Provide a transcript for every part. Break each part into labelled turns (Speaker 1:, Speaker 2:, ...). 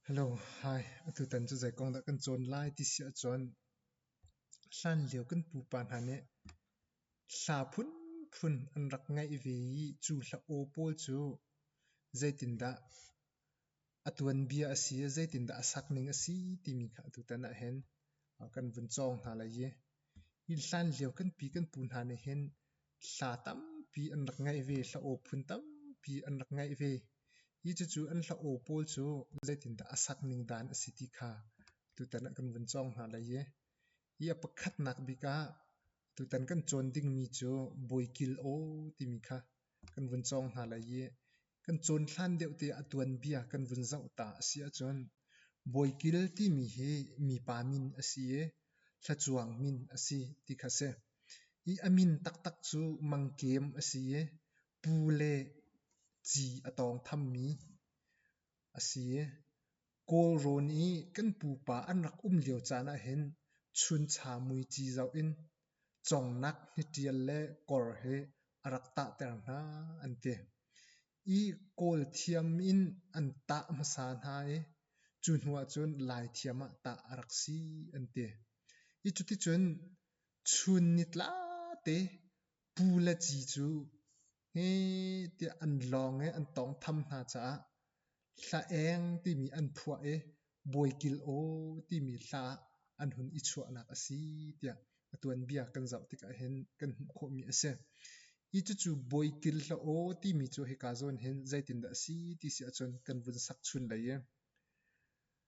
Speaker 1: Hello, hi. Atutan cu zei kong dah kan cawn lai ti si ahcun hlanlio kan pupa hna nih hla phunphun an rak ngeih ve i cu hla aw pawl cu zeitindah a tuanbia a si, zeitindah a sakning a si timi kha atutan ahhin kan vun cawng hna lai i hlanlio kan pi kan pu hna nih hin Hla tampi an rak ngeih ve, hlaw phun tampi an rak ngeih ve i cucu an hlaw pawl cu zeitindah a sak ning dan a si ti kha tutan ah kan vun cawng hna lai i hi a pakhatnak bik ah tutan kan cawn dingmi cu Bawi Kil Aw timi kha kan vun cawng hna lai i Kan cawn hlan deuh te a tuanbia kan vun zoh ta a si ahcun Bawikil timi hi mipa min a si i thlacuang min a si ti kha si. I a min taktak cu mangkem a si i pu le ci a tawngthammi a si. Kawlrawn i kan pupa an rak um lio caan ahhin chuncha muici zoh in congnak hniṭial le kor hi a rak tahter hna an ti. I kawl thiam in an tah hmasa hna i cu hnu ahcun lai thiam ah tah a rak si an ti. I cuticun chun ni tlate pu le ci cu Hi tiah an lawng i an tawngtham hna caah hla eng timi an phuah i bawi kil aw timi hla ah an hun i chuahnak a si tiah a tuanbia kan zoh tikah hin kan hmuh khawhmi a si. Hi cucu bawi kil hla aw timi cu hika zawn hin zeitindah a si ti si ahcun kan vun sak chun lei i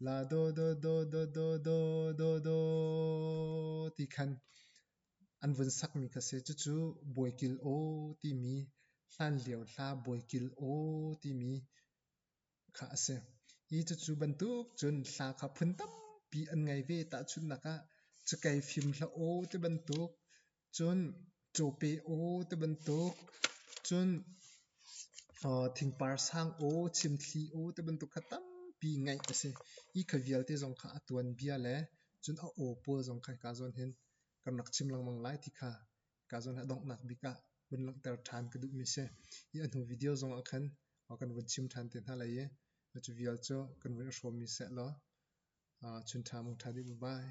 Speaker 1: La do do do do do do do do ti khan an vun sakmi kha si. Cucu Bawikil aw timi, hlanlio hla Bawikil aw timi kha a si. Hi cucu bantuk cun hla kha phun tampi an ngei ve. Tahchunhnak ah, cakei fim hla aw ti bantuk Cun caw pe aw ti bantuk, cun thingpar sang aw, chimthli aw ti bantuk kha tampi ngeih a si. Hi kha vialte zong kha a tuanbia le cun a aw pawl zong kha hika zawn hin kan rak chim lengmang lai ti kha hika zawn a donghnak bik ah vun langhter ṭhan ka duhmi si. Hi a hnu video zong ah khan kan vun chim ṭhan te hna lai i cu vial cu kan vun i hrawmmi sehlaw chun ṭha mung ṭha dih. Bye-bye.